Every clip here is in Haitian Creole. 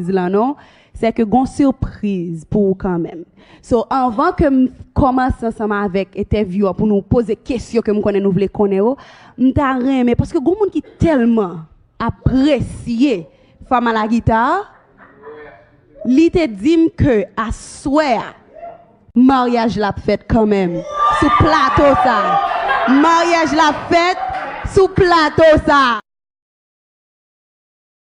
sipriz lan non sè ke gon sipriz pou ou kanmenm so anvan kem kòmanse ansanm avèk etèvyou an pou nou poze kesyon kem konnen nou vle konnen yo mta renmen paske gon moun ki tèlman apresye fanm a la gita li te dim ke aswè a maryaj la ap fèt kanmenm sou plato sa maryaj la ap fèt sou plato sa.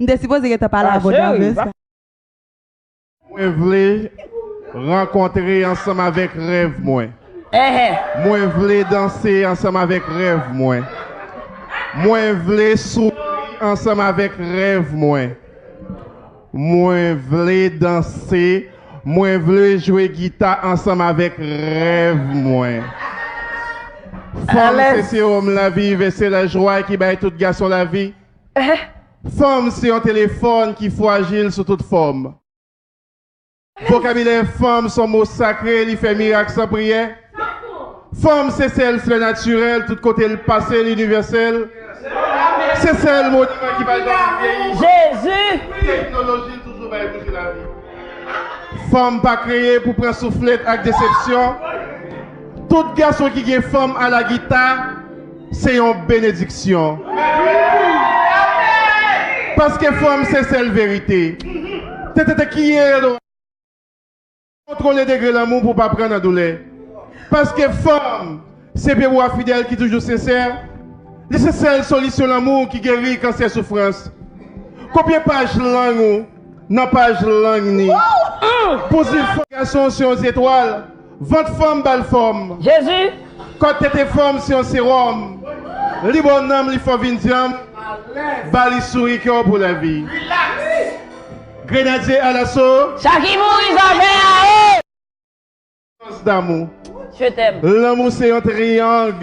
M te sipoze gentan pale avw davans. Mwen vle rankontre ansanm avèk rèv mwen. Mwen vle danse ansanm avèk rèv mwen. Mwen vle souri ansanm avèk rèv mwen. Mwen vle danse, mwen vle jwe gita ansanm avèk rèv mwen. Fanm se sewòm lavi, vè se lajwa ki bay tout gason lavi. Eeh! Fanm se yon telefòn ki fwajil sou tout fòm. Vokabilè fanm son mo sakre li fè mirak san priyè. Fanm se sèl flè natirèl tout kote l pase l inivèsèl. Se sèl moniman ki pa janm vyeyi. Jezi! Teknoloji l toujou bay bouji lavi. Fanm pa kreye pou pran souflèt ak desepsyon. Tout gason ki gen fanm a la gita. Se yon benediksyon. Paske fanm se sèl verite. Kontwole degre lanmou pou w pa pran nan doulè. Paske fanm se bebe w a fidèl ki toujou sensè. Li se sèl solisyon lanmou ki geri kansè soufrans. Kopye paj lang ou nan paj lang ni. Pou zil fanm. Gason se yon zetwal. Vant fanm ba l fòm. Jezi! Kò l tete fòm se yon sewòm. Li bon nanm li fò vin dyanm. Ba li souri kè w pou lavi. Grenadye alaso. Sa ki mouri zòvè a e. Sans damou. Je t'aime. Lanmou se yon triyang.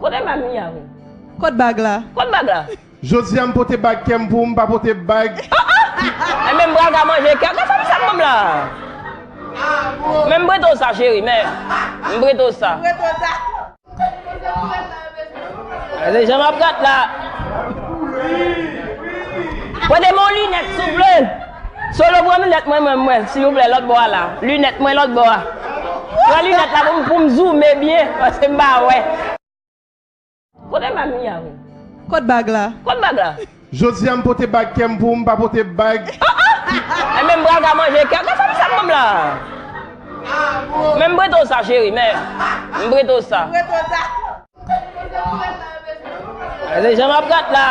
Kote bag mwen ya menm? Kot bag la? Kot bag la? Jodi a m pote bag kè m pou m pa pote bag. Enben m pral ka manje kè. Gad sa misye ap ban m la. Men m prete w sa cheri men. M prete w sa. Gade jan m ap rat la. Prete m yon linèt souple. Solo pran lunèt mwen mwen mwen silvouplè lòt bò a la lunèt mwen lòt bò a pran lunèt la pou m pou m zoume byen paske m pa wè. Kote bag mia wi. Kot bag la. Kot bag la. Jodia m pote bag kèm pou m pa pote bag Ahh Enben m pral ka manje kè Gad sa misye ap banm la Men m prete w sa cheri men M prete w sa. Gade jan map rat la.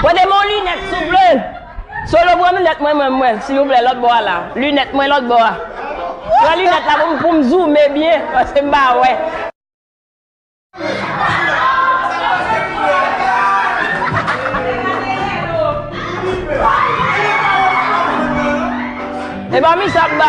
Mwen de mon lunette souple. Solo pran lunette mwen mwen mwen silvouplè lòt bò a la. Lunette mwen lòt bò a. Pran lunette la pou pou m zoome byen paske m pa wè. Epa missa ap ba.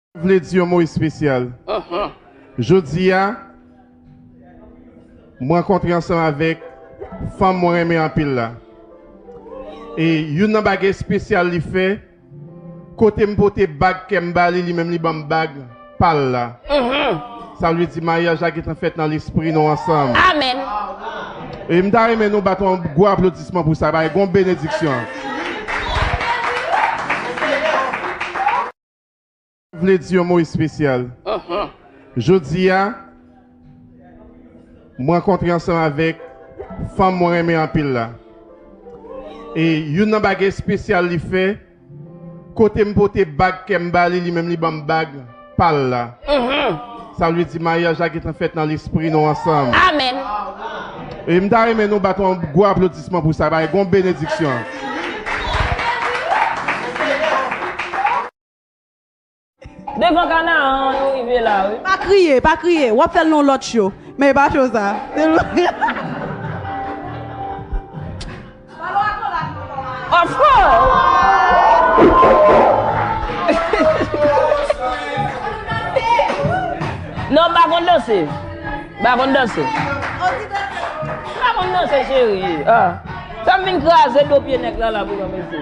Mwen vle di yon mo espesyal. Jodi a, m rankontre ansanm avèk fanm mwen renmen anpil la. E youn nan bagay espesyal li fè, kote m pote bag kè m ba li, li menm li ban m bag pa l la. Sa vle di maryaj la gentan fèt nan lespri nou ansanm. E m ta renmen nou bat yon gwo aplodisman pou sa, paske gen yon benediksyon. Mwen vle di yon mo espesyal. Jodi a, m rankontre ansanm avèk fanm mwen renmen anpil la. E youn nan bagay espesyal li fè, kote m pote bag kè m ba li, li menm li ban m bag pa l la. Sa vle di maryaj la gentan fèt nan lespri nou ansanm. Amen. E m ta renmen nou bat yon gwo aplodisman pou sa bay gon benediksyon. Devan Canaan an nou rive la wi. Pa kriye, pa kriye, wap fèl non lòt show, men e pa show sa. Of course! Non, m pa konn danse. M pa konn danse. M pa konn danse, cheri. Fè m vin kraze do pye nèg la la pou mwen, mesi.